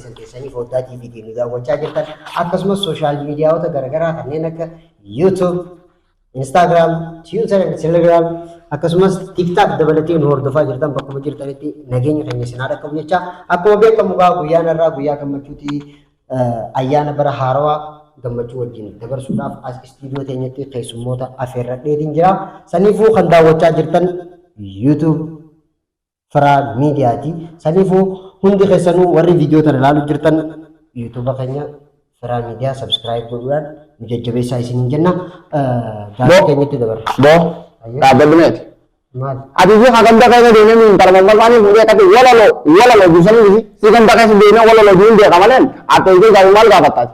keessan keessanii foddaa TV tiin nu daawwachaa jirtan akkasumas sooshaal miidiyaawota garaagaraa kanneen akka YouTube, Instagram, Twitter, and Telegram akkasumas TikTok dabalatee nu hordofaa jirtan bakkuma jirtanitti nageenya keenya isin haa dhaqqabu jecha akkuma beekamu gaa guyyaan irraa guyyaa gammachuuti eh, ayyaana bara haarawaa gammachuu wajjin dabarsuudhaaf as istiidiyoo teenyatti keessummoota afeerradheetiin jira. Saniifuu kan daawwachaa jirtan YouTube, Firaa miidiyaati. Saniifuu hundi keessanuu warri viidiyoo tana ilaaluu jirtan yuutuuba keenya Firaa miidiyaa sabskiraayib godhuudhaan nu jajjabeessaa isiniin jenna. Gaafii keenyatti dabarra. Bo. Dhaabbadhu meeti. Maali? Ati fi ka ganda keessa deemee nu intala mammasaanii fuudhee akkatti walalo walalo jisanii dhisi. Si ganda keessa deemee walalo jiin beeka maleen akka ijoo gaafii maal gaafattaati.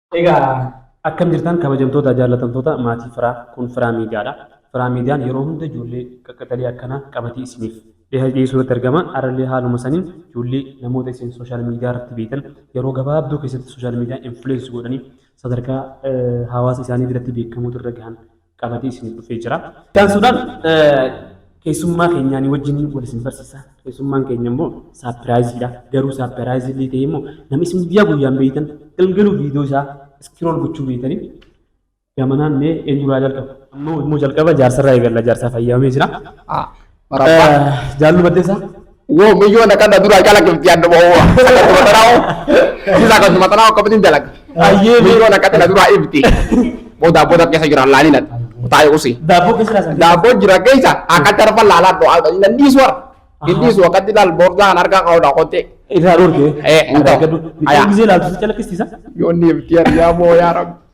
Egaa akkam jirtan kabajamtoota jaallatamtoota maatii firaa kun firaa miidiyaadha. Firaa miidiyaan yeroo hunda ijoollee qaqqaxalee akkanaa qabatee isiniif dhiyeessuu irratti argama. Arallee haaluma saniin ijoollee namoota isin sooshaal miidiyaa irratti beektan yeroo gabaabduu keessatti sooshaal miidiyaa influence godhanii sadarkaa hawaasa isaanii biratti beekamuutu irra gahan qabatee isinif dhufee jira. Itti aansuudhaan keessummaa keenyaanii wajjin wal isin barsiisa. Keessummaan keenya immoo saapiraayiziidha. Garuu saapiraayizi illee ta'ee immoo nama isin guyyaa guyyaan beektan galgaluu viidiyoo isaa iskirool gochuu beektanii gamanaan mee eenyurraa jalqaba? Amma immoo jalqaba jaarsarraa eegalla. Jaarsaa fayyamamee jira. Marabbaa. Jaallu baddeessa. Woo miyyoo na qadda duraa calaqifti adda ba'oo. Akkasuma xanaawo. Siisa akkasuma xanaawo akkamitiin dalaga. Ayyee. Miyyoo na qadda duraa ifti. Booda booda keessa jira laalina. Taa'e usi. Daabboo keessa laasan. Daabboo jira keessa akka tarfa laalaa dho'aa nan dhiisu warra. Hin dhiisu akkatti laal boordaa kan harkaa qabu dhaa qottee. Irraa dhorkee. Eh, hin ta'u. Ayaa. Miidhaan gisee laaltu si calaqqisiisa. Yoo inni ifti yaa moo yaa rabbi.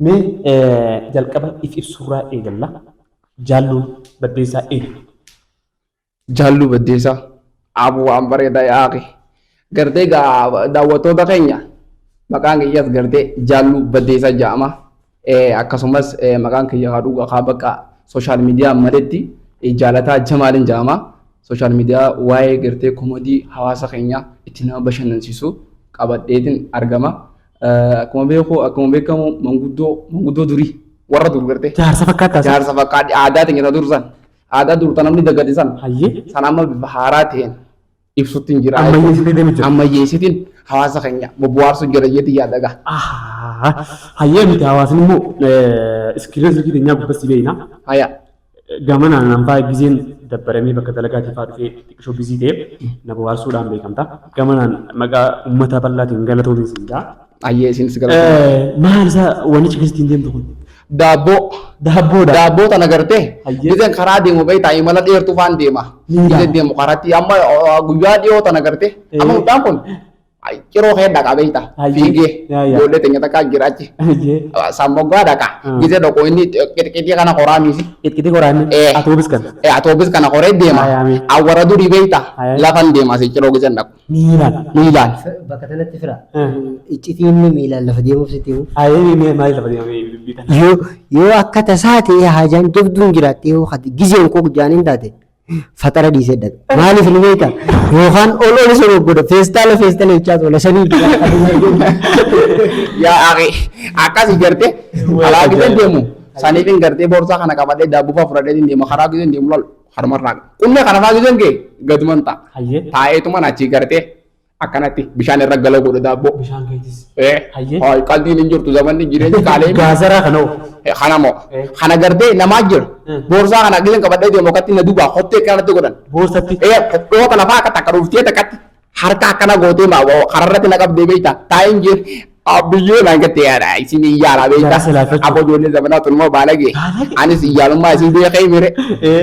Mee jalqaba if ibsuurraa eegalla. Jaalluu Baddeessaa eenyu? Jaalluu Baddeessaa aabuu waan bareeda yaaqi. Gartee gaa daawwattoota keenya maqaan kiyyas gartee Jaalluu Baddeessaa jedhama. Akkasumas maqaan kiyya haa dhugaa haa bakka sooshaal miidiyaa maletti jaalataa Jamaaliin jedhama. Sooshaal miidiyaa waa'ee gartee komodii hawaasa keenya itti nama bashannansiisu qabadheetiin argama. Akkuma beeku akkuma beekamu manguddoo manguddoo durii warra dur gartee. Jaarsa fakkaata. Jaarsa fakkaadhi aadaa teenya dur san aadaa dur tan namni dagate san Hayyee. san amma bifa haaraa ta'een ibsutti hin jira. Ammayyeessitee deemu jira. Ammayyeessitiin hawaasa keenya bobbohaarsuu jira jeetii yaada gaa. Ahaa. Hayyee miti hawaasni immoo iskiriina silkii teenyaa gubbatti beeyna. Hayaa. Gamana nanfaa gizeen dabbaramee bakka dalagaatii faa dhufee xiqqishoo bizii ta'e na bohaarsuudhaan beekamta. Gamanaan maqaa ummata bal'aatiin galatoomi siin jaa. Ayyee isiin si galatoomaa. Eh, Maal isa wanni cikiis ittiin deemtu kun? Daabboo. Daabboodha. Daabboo tana gartee Ayyee. gizeen karaa deemu beektaa imala dheertuu faan deema. Miilaan. Gizeen deemu karatti amma uh, guyyaa dhiyoo tana gartee amma Eh. mucaan kun Ciroo kee dhaqaa beekta. Ayyee. Fiigee. Yaa, yaa. Ijoollee teenya takka jira achi. Ayyee. Sammoggaa dhaqa. Ah. Gisee dhaqu inni qixqitii kana qoraa miisi. Qixqiti qoraanni. Eh. Atoobis kan. Eh, Atoobis kana qoree deema. Ayaa, ayaa. Awwara durii beekta. Ayaa. Lafan deema si ciroo giseen dhaqu. Miilaan. Miilaan. Bakka sanatti fira. Eh. Iccitiin miilaan lafa deemuuf sitti himu. Ayyee mee maaliif lafa deemee dubbii kana. Yoo yoo akka tasaa ta'e haajaan jabduun jiraatte yoo hati gizeen koo jaaniin taate Faxara dhiisee dhabe. Maaliif ni beekta? Yookaan ol ol isa goggoda. Feestaala feestaala jechaa tola. Sanii Yaa aqi akkas ijarte alaa gidee deemu saniif hin gartee boorsaa kana qabadhee daabbuufaa fudhadhee hin deema karaa gidee hin deemu lol harmarraa qunnee kana faa gideen kee gaduman ta'a. Hayyee. Taa'eetuman achii gartee akkanatti bishaan irra galoo godhu daabboo. Bishaan keetis. Eh, Hayyee. hooy, qaldiin hin jirtu zamanni jireenyi qaalee. Gaazaraa kana hoo. Eh, Kana moo Eh. kana gartee namaa jira. Eh. Boorsaa kana gizeen qabadhee deemu akkatti na dubaa hottee kanatti godhan. Boorsatti. Eh, kophoota lafaa akka takka dhuftee takkatti harka akkana gootee maa woo kararratti na qabdee beektaa taa'een jee biyyoo naan gattee yaada isin iyyaala beektaa. Jara silaafachuu. Aboo ijoollee zamanaa tun immoo baalage. Baalage. Anis iyyaalummaa isin beekee mire. Eh.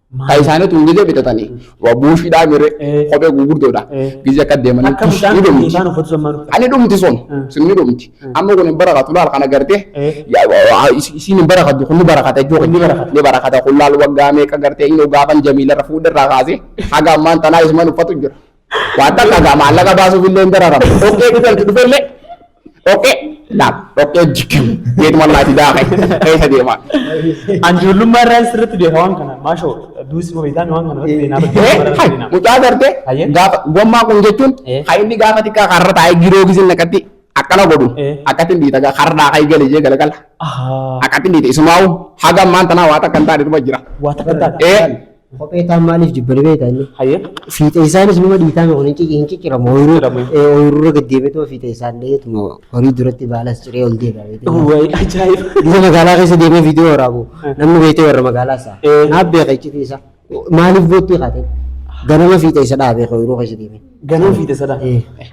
Ka isaanii tun gizee bitatanii waa buushiidhaa mire Eh. kophee gurguddoodha. Eh. Gizee akka deemanii Akka tush mucaan ni dhumti. mucaan uffatu sun maal uffata? Ani dhumti sun Mm. sun ni dhumti. Mm. Amma kun hin barakatu laal kana gartee Eh. yaa- waa- is- isiin hin barakatu kun ni barakata ijoo Kun ni barakata. ni barakata kun laal waggaa meeqa gartee inni gaafan jamiilarra fuudharraa kaasee haga ammaan tanaa isumaan uffatu jira. Waan takka gaa maallaqa baasuuf illee hin dararamu. Dhoqqee dhufee itti dhufee illee dhoqqee laaf dhoqqee jiggimu jeetuma laati daaqe keessa deema. An ijoollummaa irraa sirriitti beeka waan kana. Maashoo duusi moo beektaan waan kana irratti beenaa Eh, barbaadee hai, beenaa. mucaa gartee Hayyee. gaafa gommaa kun jechuun Eh. kan inni gaafa xiqqaa karra taa'ee giroo gisin akkatti akkana godhu Eh. akkatti hin dhiita gaa karra daaqaa eegale jee galagala Ahaa. akkatti hin dhiita isumaa'u haga ammaan tanaa waa takka hin taane dhuma jira. Waa takka taate. Eh. Kophee taan maaliif jibbani beektaa inni? Hayyee. Fiixee isaanis numa dhiitaame kun hin cicciramu. Ooyiruu ooyiruurra gad deemeetuma fiixee isaan dheetuma horii duratti baalas ciree ol deebi'a beektaa. Wayi ajaa'iba. Gisa magaalaa keessa deemee viidiyoo waraabu namni beektee warra magaalaa isaa. Naaf beeka iccitii isaa. Maaliif boottii kaatee? Ganama fiixee isa dhaabee ooyiruu keessa deemee. Ganaa fiide sadaa.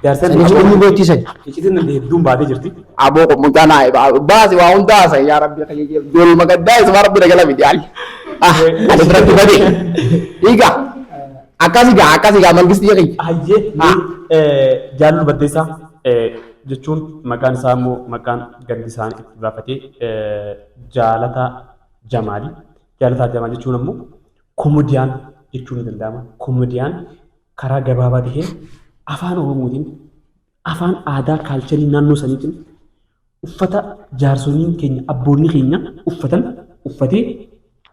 Jaarsan Saniif wanni beektii sani. Iccitiin nalli hedduun baatee jirti. Aboo kun mucaa naa ibaa. Baasi waa hunda haasa'e yaa rabbi akka jijjiiru. Jool magaddaa isuma rabbi nagala miti ali. Ah ani biratti bade. Dhiiga. Akkasi gaa akkasi gaa mangistii kiyya. Hayyee mee jaallu baddeessaa jechuun maqaan isaa immoo maqaan gandi isaanii itti baafatee jaalataa jamaali. Jaalataa jamaal jechuun ammoo komodiyaan jechuun ni danda'ama. Komodiyaan karaa gabaabaa taheen afaan Oromootiin afaan aadaa kaalcharii naannoo saniitiin uffata jaarsoliin keenya abboonni keenya uffatan uffatee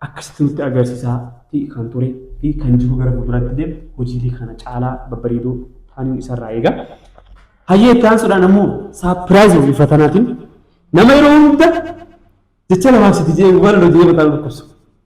akkasitti nutti agarsiisaa fi kan ture fi kan jiru gara fuulduraatti illee hojiilee kana caalaa babbareedoo taaniin isarraa eega. Hayyee itti aansuudhaan ammoo saapiraayiza bifa tanaatiin nama yeroo hunda jecha lafaaf sitti jedhee waan hojii yeroo ta'an dhukkubsu.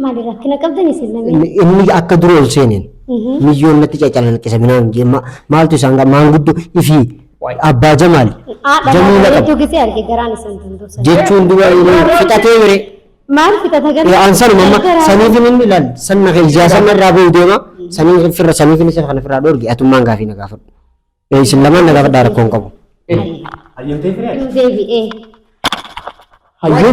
Maali rakkina qabdan isin lameen? Inni inni akka dura ol seeneen Mhm. miyyoon natti cacalanqisa minaan jee ma- maaltu isaan gaa maanguddo ifii abbaa jamaal Haadha jamuu maal laqabu bareedduu gisee arge garaan isin dandoofsan. jechuun dura fixatee bire Maal fixata gara? an sanuma amma Garaa- saniifin inni ilaal sanna kee ijaa sanna irraa ba'u deema sanii firra saniifin isa kana firraa dhoorge atummaan gaafii na gaafadhu Ee, isin lamaan na gaafadhaa rakkoo hin qabu Hayyamtee firee? Deebi'ee. Hayyee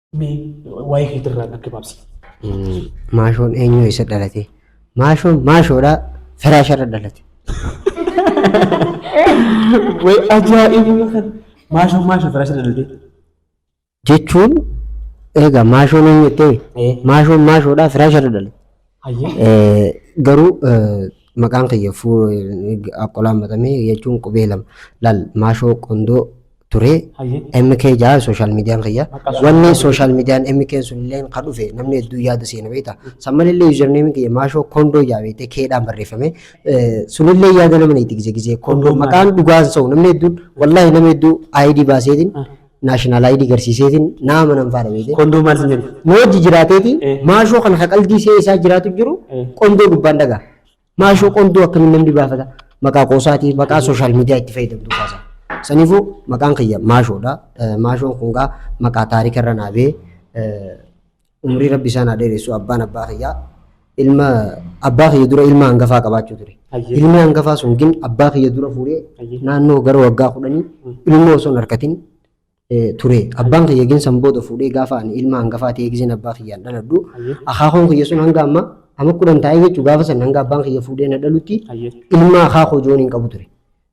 Mee waa'ee keetirraa natti maabsi. Maashoon eenyu isa dhalate? Maashoon maashoodha firaasharra dhalate. Way ajaa'ibuma kan maashoon maashoo firaasha dhalatee. Jechuun egaa maashoon eenyu jettee maashoon maashoodha firaasharra dhalate. Garuu maqaan kiyya Aqqolaan Matamee jechuun qubee lama laal Maashoo Qondoo ture MK jaa sooshaal miidiyaan kiyya. Wanni sooshaal miidiyaan MK sun illee ka dhufe namni hedduu yaada seena beekta. Samman illee yuuzarneemiin kiyya Maashoo Kondoo jaa beektee keedhaan barreeffame. Sunillee yaada nama na itti gise gise Kondoo maqaan dhugaan sa'u namni hedduun wallaahi nama hedduu ID baaseetiin national ID garsiiseetiin na amanan faadha beekee. Kondoo maal sin jedhu? Nu hojii jiraateeti Eh. maashoo kana ka qaldii see isaa jiraatu jiru Eh. qondoo gubbaan dhagaa. Maashoo qondoo akkamiin namni baafata maqaa qoosaatii maqaa sooshaal miidiyaa itti fayyadamtu kaasa. Saniifuu maqaan kiyya maashoodha. Eh, Maashoon kun gaa maqaa taarika irra naabee eh, Umrii rabbi isaan haa dheeressu abbaan abbaa kiyyaa ilma abbaa kiyya dura ilma hangafaa qabaachuu ture. Hayyee. Ilmi hangafaa sun gin abbaa kiyya dura fuudhee Hayyee. naannoo gara waggaa kudhanii ilmoo osoo hin harkatin eh, ture. Abbaan kiyya gin san booda fuudhee gaafa ani ilma hangafaa ta'ee gizeen abbaa kiyyaan dhaladhu Hayyee. akaakoon kiyya sun hanga amma amma kudhan taa'ee jechuun gaafa san hanga abbaan kiyya fuudhee na dhalutti Hayyee. ilma akaakoo joon hin qabu ture.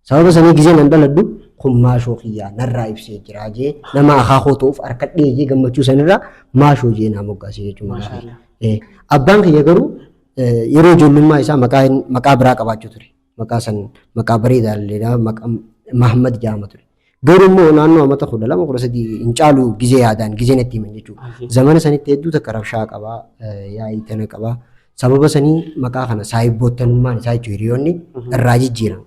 Sababa sanii gizeen an dhaladhu kun maashoo kiyyaa narraa ibsee jiraa jee nama akaa koo ta'uuf harkadhee jee gammachuu sanirraa maashoo jee naa moggaasee jechuun maqaa kiyya. Maashaallah. Eh, Abbaan kiyya garuu eh, yeroo ijoollummaa isaa maqaa hin- maqaa biraa qabaachuu ture. Maqaa san maqaa bareedaa illee maqaa Mahammad jaama ture. Garuu immoo naannoo amata kudha lama kudha sadii hin caalu gizee yaadaan gizee natti himan jechuudha. Zamana sanitti hedduu takka rabshaa qaba yaa'ii tana qaba. Sababa sanii maqaa kana saayibboottanummaan isaa jechuun hiriyoonni irraa jijjiiran.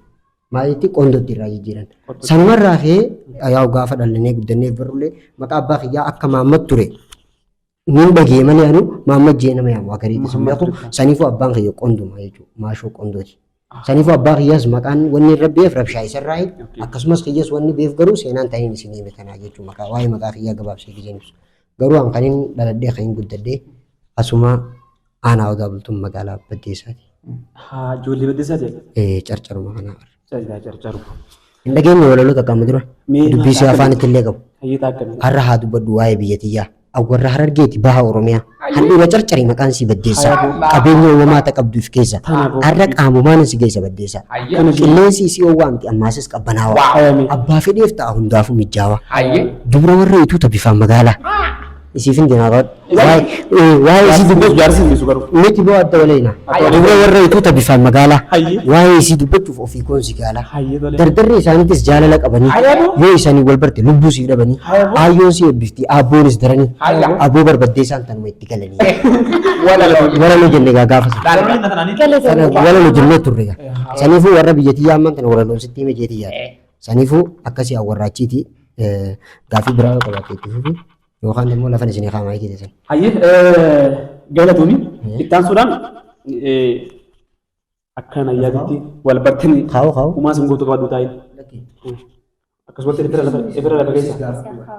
Maalitti qondootti irraa jijjiiran. Sanumarraa ka'ee yaa'u gaafa dhalannee guddannee barrullee maqaa abbaa kiyyaa akka maammat ture Nin dhagee malee anu Mahammad jee nama yaamu akarii dhiisun Muhammad beeku Rifaa. saniifuu abbaan kiyya qonduma jechuudha maashoo qondooti. Saniifuu abbaa kiyyaas maqaan wanni irra beef rabshaa isarraa Okay. akkasumas kiyyas wanni beef garuu seenaan taniin isin hime tanaa jechuu maqaa waa'ee maqaa kiyyaa gabaabsee gizeen ibsu. Garuu an kanin dhaladhee kanin guddadhee asuma Aanaa Odaa Bultum magaalaa Baddeessaati. Haa ijoollee baddeessaa jedha. Ee, Carcaruma kanaa bara. Callaa carcaru. Hin dhageenye walaloo takka amma dura. Mee Dubbii si maal afaan itti illee qabu. Hayyeetaa akkamii? Har'a haa dubbadhu waa'ee biyya tiyyaa. Awwarra harargeeti baha Oromiyaa. Handhuura carcarii maqaan si baddeessaa. Qabeenya uumamaa ta qabduuf keessa. Har'a qaamumaan si geessa baddeessaa. Qilleensi isii oowwaa miti ammaasis qabbanaawaa. Abbaa fedheef ta'a hundaafuu mijjaawaa. Dubra warra ituuta bifaan magaalaa. Isiifin jinaafadhu. Waa'ee isii dubbachuu. Jaarsi hin dhiisu garuu. Miti boo adda waleena. Adda waleena. Dubra warra ituu tabifaan magaalaa. Hayyee. Waa'ee isii dubbachuuf ofii koon si gaalaa. Hayyee tolee. Dardarri isaaniitis jaalala qabanii. Hayyee boo. Yoo isaanii wal barte lubbuu siif dhabanii. Hayyee boo. Aayyoon si eebbifti aabboonis daranii. Hayyee. Abboo barbaddee isaan tanuma itti galanii. Walaloo. Walaloo jenne gaa gaafa sana. Garuu inni tanaan Sana walaloo jennee turre gaa. Saniifuu warra biyyattii yaamman tana walaloon sitti hime jeetii yaada. Saniifuu akkasii awwarraachiiti gaaffii biraa yoo qabaatte itti fufi yookaan immoo lafan isinii kaamaa itti teessan. Hayyee galatoomii itti aansuudhaan akka na yaadatti wal bartanii Kaa'u kaa'u. uumaa sin gootu qabadhu taa'in. Akkasumatti irra lafa keessa.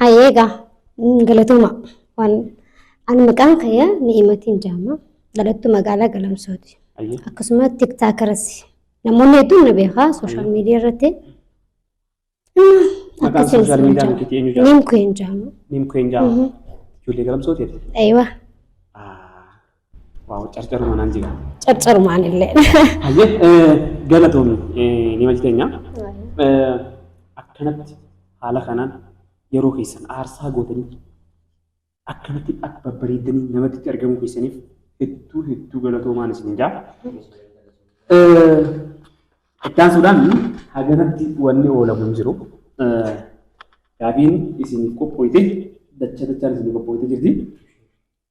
Haye egaa mm, galatooma waan ani maqaan kiyya ni'imatiin jaama dhalattuu magaalaa galamsooti Ayyee. akkasuma tiktaakeras namoonni hedduun na beekaa sooshaal miidiyaa irratti Maqaan social media nuti eenyu jaama? niim kiyya jaama Niim keen jaama. Ijoollee galamsooti jedhe. eewa Ah, Waaw carcaruma naan jira. Carcarumaan illee. Hayyee eh, galatoomi eh, ni hojjeteenya. Eh, Akkanatti haala kanaan yeroo keessan aarsaa gootanii akkanatti akka babbareeddanii namatti itti argamuu keessaniif hedduu hedduu galatoomaan isin jaa. Eh, Ittaansuudhaan haganatti wanni oolamu hin jiru. Eh, Gaafiin isin qophooyte dacha dachaan isin qophooyte jirti.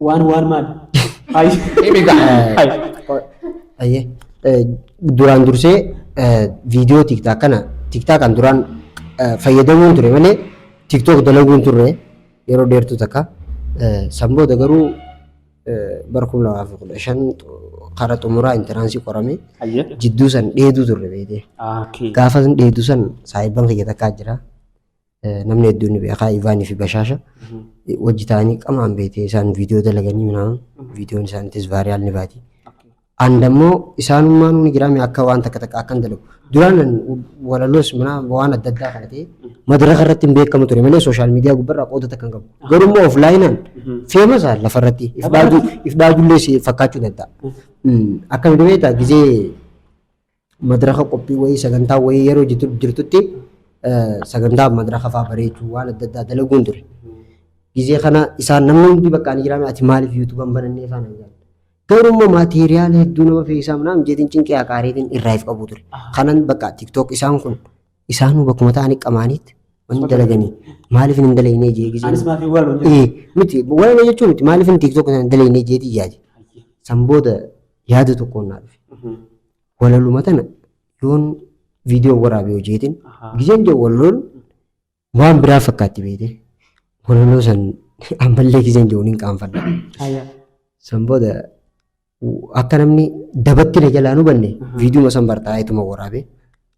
Waan waan maal? Hayi. Ayyee. Eh, Duraan dursee eh, viidiyoo tiktaak kana tiktaakaan duraan eh, fayyadamuun ture malee tiktook dalaguun turre yeroo dheertuu takka. Eh, San booda garuu eh, bara kuma lamaa fi kudha shan karaa xumuraa intaraansii qorame Hayyee. jidduu san dheeduu turre beekte. Gaafas dheeduu san saayibban kiyya takkaa jira. Namni hedduun ni beekaa Ivaanii fi Bashaasha wajji ta'anii qamaan beekee isaan viidiyoo dalaganii minaan viidiyoon isaaniitis vaariyaal ni baati. And ammoo isaanummaan ni jiraame akka waan takka takka akkan dalagu. Duraan walaloos minaa waan adda addaa kana ta'e madaraka irratti hin beekamu ture malee sooshaal miidiyaa gubbarraa qooda takka hin qabu. Garuu immoo oflaayinaan feemas lafa irratti if dhaadullee si fakkaachuu danda'a. Akkamitti beektaa gizee madraka qophii wayii sagantaa wayii yeroo jitu- jirtutti eh, sagantaa madraka fa'aa bareechuu waan adda addaa dalaguun ture. Gizee kana isaan namni hundi bakka ani jiraame ati maaliif yuutuuban banannee isaan hin jedhan. Garuu immoo maatiriyaala hedduu nama fe'isaa minaan jeetiin cinqii haqaareetiin irraa if qabu ture. Kanan bakka tiktook isaan kun isaanuu bakkuma ta'anii qamaaniitti wanni dalaganii maaliif hin dalagnee jee gizee. Anis maaf hin waalu jedhu. Eh, miti waa'ee jechuun miti maaliif hin tiktook isaan dalagnee jeetii yaade. San booda yaada tokkoon naa dhufe. Walaluma tana yoon viidiyoo waraabee hojeetiin Ahaa. gizeen jedhu walaloon waan biraa fakkaatti beete. Walaloo san ammallee gizeen jedhu hin qaanfadha. Aya. San booda u- akka namni dabatti na jalaa nu banne viidiyuma san bartaa ituma waraabee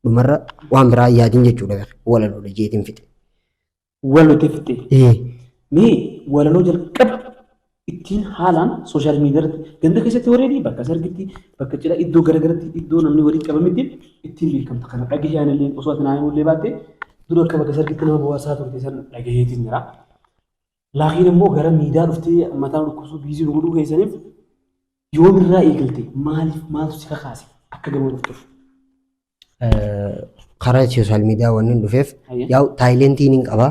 dhumarra waan biraa yaadin jechuudha walaloodha jeetiin fixe. Walaloo itti fitte. Ee. Mee walaloo jalqaba ittiin haalaan sooshaal miidiyaa irratti ganda keessatti wareedi bakka sargitti bakka cidha iddoo garagaratti iddoo namni walitti qabamitti ittiin beekamta kana dhagahee anillee osoo ati naannoo illee baatte dura akka bakka sargitti nama bu'aasaa turte san dhagaheetiin jira. Laakiin immoo gara miidiyaa dhuftee mataa dhukkubsuu biizii nu godhuu keessaniif yoomirraa eegalte maaliif maaltu si kakaase akka gama dhuftuuf. karaa sooshaal miidiyaa waan hin dhufeef Ayya. yaa'u taayilentii niin qaba.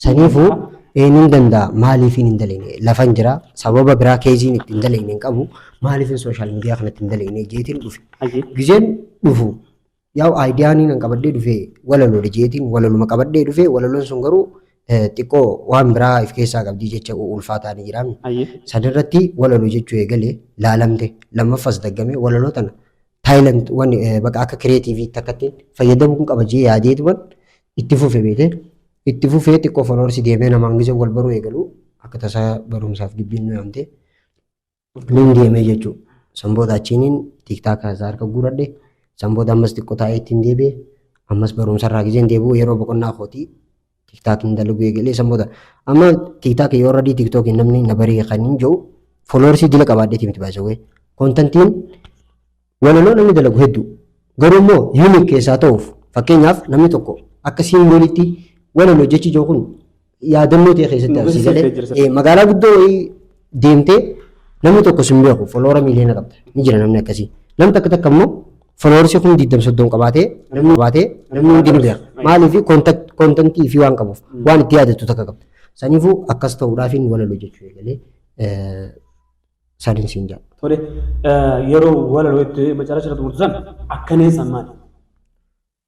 Saniifuu ee niin danda'a maaliif hin dalagne lafan jira sababa biraa keeziin itti hin dalagne hin qabu maaliif hin sooshaal miidiyaa kanatti hin dalagne jeetiin dhufe. Ayya. Gizeen dhufu yaa'u aayidiyaan hin qabadhee dhufee walaloodha jeetiin walaluma qabadhee dhufee walaloon sun garuu eh, xiqqoo waan biraa if keessaa qabdii jecha ulfaataa ni jiraami. Ayya. Sadarratti walaloo jechuu eegalee laalamte lammaffaas daggamee walaloo tana Thailand wan baqa akka creative itti akkatti fayyadamuun qaba jee yaadee duban itti fufe beete itti fufee xiqqoo followers deemee nama angisa wal baruu eegalu akka tasaa barumsaaf gibbiin nu yaamte nin deemee jechuu sanboota achiinin tiktaak haasaa harka guuradhe sanboota ammas xiqqoo taa'ee ittiin deebi'e ammas barumsarraa gizeen deebi'u yeroo boqonnaa kootii Tiktaak hin dalaguu eegalee san booda amma tiktaak yoo radii tiktookiin namni na baree kan hin jiru fooloorsii dila qabaadheeti miti baasawee kontantiin walaloo namni dalagu hedduu garuu immoo yuuniik keessaa ta'uuf fakkeenyaaf namni tokko akka siimboolitti walaloo jechi jiru kun yaadannoo ta'e keessatti Nuuf argisiisa galee agarsiiftee jirta. eh, magaalaa guddoo wayii deemtee namni tokko sin beeku foloora miiliyoona qabda ni jira namni akkasii nam takka takka immoo foloorsii kun diddam soddon qabaatee namni qabaatee namni hundi ni beeka maaliif kontantii fi waan qabuuf waan itti yaadattu takka qabda saniifuu akkas ta'uudhaaf hin walalu jechuu eegalee saniin siin jedha. Tole yeroo walaloo itti macarra jira xumurtu san akkanee san maali?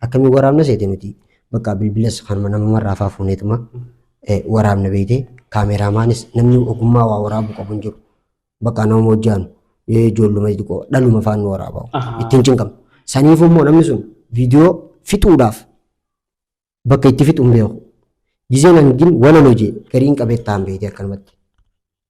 Akkamiin waraabna seete nuti bakka bilbilas kanuma namumarraa faa fuuneetuma eh, waraabna beeyte kaameeraamaanis namni ogummaa waa waraabuu qabu hin jiru. Bakka nama hojjaanu eh, ijoolluma xixiqqoo dhaluma faan nu waraabaa Ahaa. ittiin cinqamu. Saniifuu immoo namni sun viidiyoo fixuudhaaf bakka itti fixu hin beeku. Gizeen hangin walaloo jee gariin qabeettaa hin beeyte akkanumatti.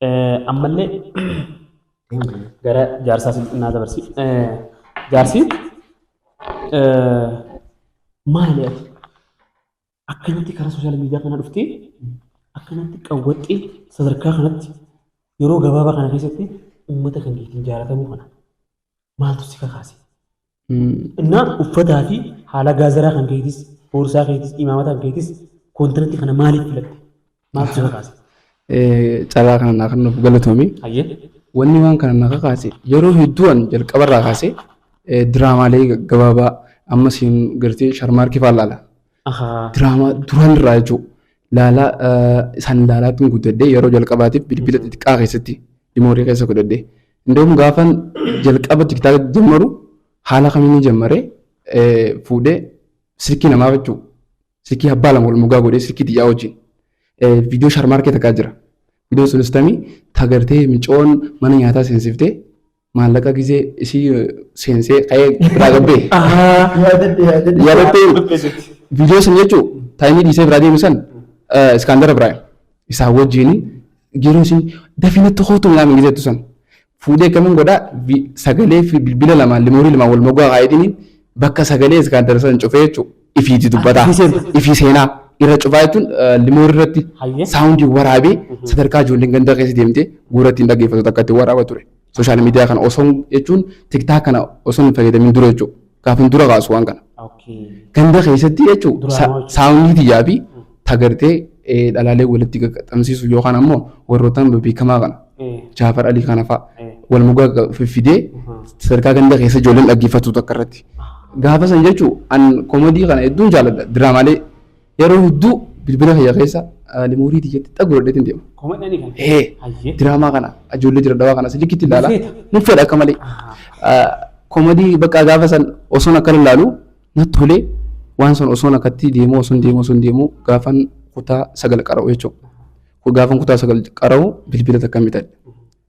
Ammallee gara jaarsaa naa dabarsi. Jaarsi maali ati? Akkanatti karaa sooshaal miidiyaa kana dhuftee akkanatti qawwaxxee sadarkaa kanatti yeroo gabaabaa kana keessatti uummata kan keetiin jaalatamuu kana maaltu si kakaase? Innaa uffataa fi haala gaazaraa kan keetis, boorsaa keetis, imaamata kan keetis koontiratti kana maaliif filatte? Maaltu si kakaase? Carraa kana naa kennuuf galatoomi. Hayyee. Wanni waan kana na kakaase yeroo hedduu an jalqabarraa kaasee diraamaalee gabaabaa amma siin gartee sharmaarkii fa'aa laala. Ahaa. Diraamaa duraan irraa jechuun laalaa isaan laalaatti guddadhee yeroo jalqabaatiif bilbila xixiqqaa keessatti dimoorii keessa godhadhee Indoom gaafan jalqaba tiktaaka jammaru haala kamiin jammare fuudhee silkii namaa jechuu silkii abbaa lama wal mogaa godhee silkii xiyyaa wajjin viidiyoo sharmaarkee takkaa jira. Viidiyoon sunis tamii tagartee micoon mana nyaataa seensiftee maallaqa gisee isii seensee ka'ee biraa gabbee. Yaadattee viidiyoo san jechuu taayinii dhiisee biraa deemu san iskaandara biraa. Isaa wajjin yeroo isin dafii natti kootu minaa mingi jettu san fuudhee akkamiin godhaa vi- sagalee fi bilbila lamaan limoorii lamaan wal mogaa kaayitini bakka sagalee iskaandar san cufee jechuudha. Ifiiti dubbataa. Ifii seena. Ifii seenaa. Irra cufaa jechuun limoorii irratti Hayyee. saawundii waraabee sadarkaa ijoolleen ganda keessa deemtee guuratti hin dhaggeeffatu takka itti waraaba ture. Sooshaal miidiyaa kana osoo jechuun tiktaak kana osoo hin fayyadamin dura jechuudha. Gaafin dura kaasu waan kana. Ganda keessatti jechuudha saawundii tiyyaa fi tagartee dhalaalee walitti qaqqabsiisu yookaan ammoo warrootaan beekamaa kana Jaafar Alii kana fa'a wal mugaa fiffidee sadarkaa ganda keessa ijoolleen dhaggeeffatu takka irratti. Gaafa san jechuun an komedii kana hedduun jaalladha diraamaalee Yeroo hedduu bilbila kiyya keessa limuurii tiyyatti xagu godhadheetiin deema. Komadhanii kan. Hee Hayyee. diraamaa kana ijoollee jira dhawaa kana silikitti ilaala. Feeta. Nan fedha akka malee. Komadii bakka gaafa san osoon akka ilaalu natti tolee waan san osoon akkatti deemuu osoon deemuu osoon deemuu gaafan kutaa sagal qara'u jechuudha. Gaafan kutaa sagal qara'u bilbila takka bitadhe.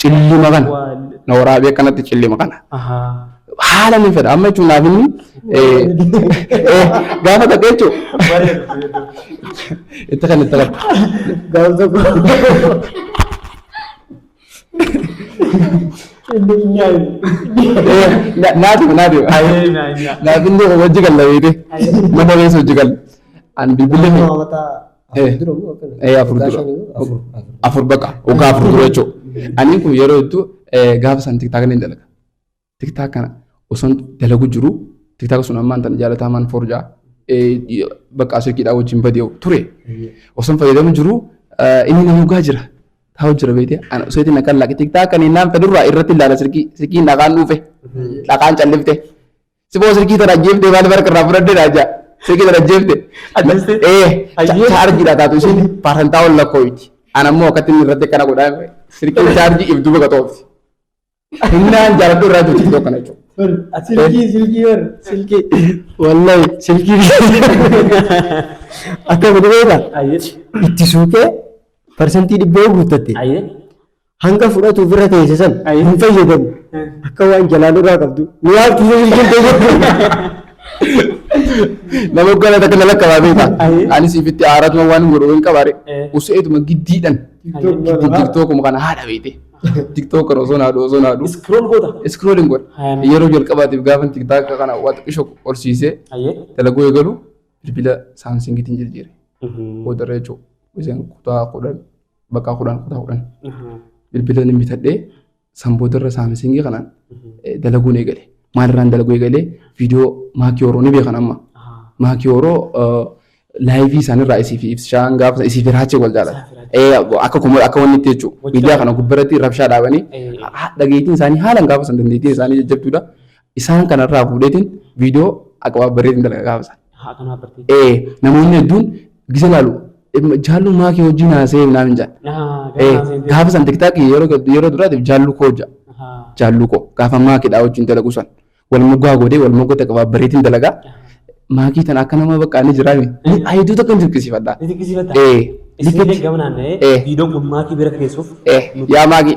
Cillima kana na waraabee akkanatti cillima kana. Haala ni fedha amma jechuun naaf inni gaafa ta'e jechuun itti kan itti qabdu. Gaafa tokko. Inni hin yaadu. Naaf naaf naaf inni hojii galla beekte mana reessa hojii galla. An bilbilli Nama mataa. Afur dura moo akkana? Eh, afur Waggaa dura. shanii moo? Afur. Afur. afur baqa waggaa afur dura jechuu aniin kun yeroo hedduu eh, gaafa san tiktaaka ni dalaga tiktaaka kana osoon dalagu jiru tiktaaka sun ammaan tan jaalatamaan forjaa bakka asirkiidhaa wajjin badee ture osoon fayyadamu jiru eh, inni na hogaa jira taa'u jira beekte ana osoo itti naqan laaqe tiktaaka kan innaan fedhurraa irratti ilaala sirkii sirkiin dhaqaan dhuufe dhaqaan callifte Siboo silkii tana ajjeeftee maaliif harka irraa fudhadde naa jaa. Silkii tana ajjeefte. Ajjeeste? Ee Ajjeefte? chaarjiidha taatu isin paasantaa ol lakkooyti. Ana immoo akkatti inni irratti akkana godhaa silkiin chaarjii if duuba qaxoofti. Humnaan jaaladhu irraa jirti tokko kana jechuudha. Silkii silkii bar silkii. Wallahi silkii akka godhu beekta Ayyee. itti suuqee parsantii dhibbaa guuttatte. Ayyee. hanga fudhatu ofirra teesse san Ayi. hin fayyadamu akka waan jalaan irraa qabdu ni yaabtu yoo hin Nama gala takka na lakka baatee ta'a. Ayi. Anis ifitti aaratuma waan godhu hin qabaare. Eh. Useetuma giddiidhan. Tiktok Tiktookuma kana haadha beekte. Tiktook kana osoo naadhu osoo naadhu. Scroll goota. Iskrooliin godha. Ayi. Yeroo jalqabaatiif gaafa tiktaaka kana waa xiqqisho horsiisee Ayyee. dalaguu eegalu bilbila saamsingiitiin jijjiire. Boodarra jechuudha. Isaan kutaa kudhan bakka kudhan kutaa kudhan bilbilan hin bitadhee san boodarra saamisingii kanaan eh, dalaguun eegale. Maalirraan dalaguu eegale viidiyoo maakii horoo ni beekan amma. Maakii horoo eh, laayivii isaanirraa isiif ibsishaan gaafa isiif hiraacha wal jaalata. Eh, Akka kuma akka wanni itti jechuudha. Miidiyaa kana gubbarratti rabshaa dhaabanii dhageettiin isaanii haalaan gaafa san dandeettiin isaanii jajjabduudha. Isaan kana irraa fuudheetiin viidiyoo aqabaabbareetiin dalaga gaafa sana. Haa kan haabbartee. Ee namoonni hedduun gisa ilaalu "Em, jaalluu maa kee wajjin haasee naan hin jedhan. Haa Ee, gaafa haaseen ta'e. Gaafa san tiktaakii yeroo gad- yeroo duraatiif jaalluu koo jedha. Haa. Jaalluu koo gaafa maakidhaa wajjin dalaguu san. Wal moggaa godhee wal moggatti aqabaabbareetiin dalagaa. Maakii tana akka nama bakka ani jiraa miti. Ni ayituu takka hin dirqisiifadha. Ni dinqisiifata. Ee. Isin illee gama naanna'ee Ee. viidiyoon kun maatii bira geessuuf Ee. Yaa maakii.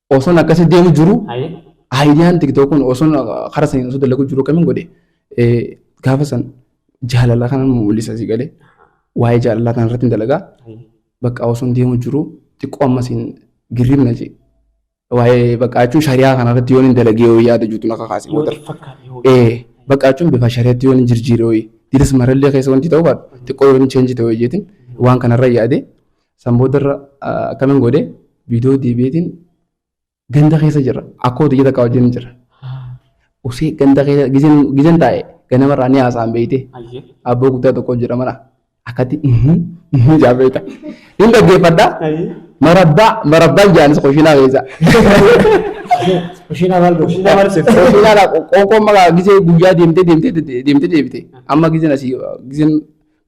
Osoon akkasii deemu jiru Haye. aayidiyaan tiktok kun osoon karaa saniin osoo dalaguu jiru kamiin godhe eh, gaafa san jaalala kana mul'isa si galee waa'ee jaalalaa kana irratti hin dalagaa Haye. bakka osoon deemu jiru xiqqoo ammas hin girribna jee waa'ee bakka jechuun shariyaa kana irratti yoon hin dalagee yoo yaada juutu na kakaase Yoo booda. xiqqaate yoo. Eh, bakka jechuun bifa shariyaatti yoon hin jirjiire ho'i. Diinis marallee keessa wanti ta'uu baatu xiqqoo yoon hin cheenji ta'uu jeetiin waan kanarra yaade San boodarra akkanan godhe viidiyoo deebi'eetiin ganda keessa jira. Akkoo hojii takka wajjin jira. Usee ganda keessa gizeen taa'e ganamarraa ni haasa'an beeyte. Abboo guddaa tokko jira mana. Akkatti ijaa beeyta. Hin dhaggeeffadha. Marabbaa marabbaan jaanis koshinaa keessa. Kushiinaa maal gooti? Koshinaa qoonqoon maqaa gizee guyyaa deemtee deemtee deemtee deebite. Amma gizeen asii gizeen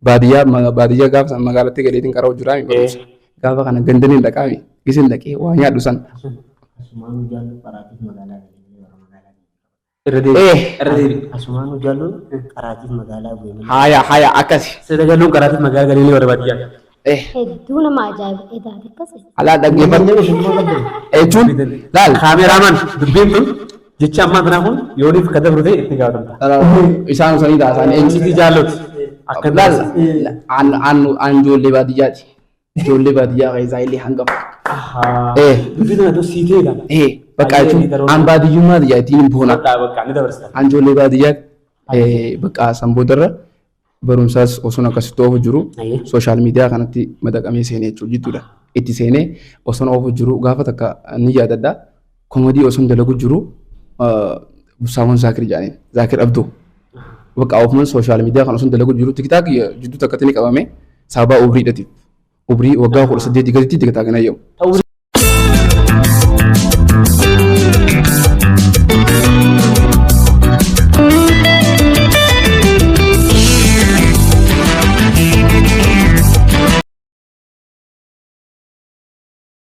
Baadiyyaa ma- baadiyyaa gaafa san magaalatti galeetiin qara'u jiraa mi barumsa. Gaafa kana gandanii hin dhaqaa mi gisin dhaqee waa nyaadhu san. Asumaan hojjaallu qaraatiif magaalaa galanii warra magaalaa galanii. Irra deebi. Eh. Irra deebi. Asumaan hojjaallu qaraatiif magaalaa galanii. Haaya haaya akkasi. Sida galuun qaraatiif magaalaa galanii warra baadiyyaa. Eh Hedduu nama ajaa'iba edaati akkasi. alaa dhaggeeffadhu. Jechuun laal. Kaameraamaan dubbiin kun Jechi ammaa tanaa kun yooniif ka dabru ta'e itti gaafatamta. Isaan usanii taasaan Eenyuti jaalloti? Akka Laal, taasisa. aan, aan, aan ijoollee baadiyyaati. Ijoollee baadiyyaa keessaa illee hangafa. Ahaa. Eh. Dubbii tana dur sii ta'e kana. Eh, bakka Baay'ee jechuun daroota. aan baadiyyummaa biyyaatti hin boona. Bakka bakka ni dabarsitan. Aan ijoollee baadiyyaatti eh, bakka san boodarra barumsaas osoon akkasitti oofu jiru Ayyee. sooshaal miidiyaa kanatti madaqamee seenee jechuudha jidduudha. Itti seenee osoon oofu jiru gaafa takka ni yaadadha. Komodii osoon dalagu jiru ah, Saamoon Zaakir jedhaniin Zaakir Abduu. Bakka ofumaan sooshaal miidiyaa kan osoon dalagu jiru tiktaak jidduu takkatti ni qabame saabaa umriidhatiif. Umrii waggaa kudha saddeetii gaditti itti gataa kana jedhamu. Ta'uu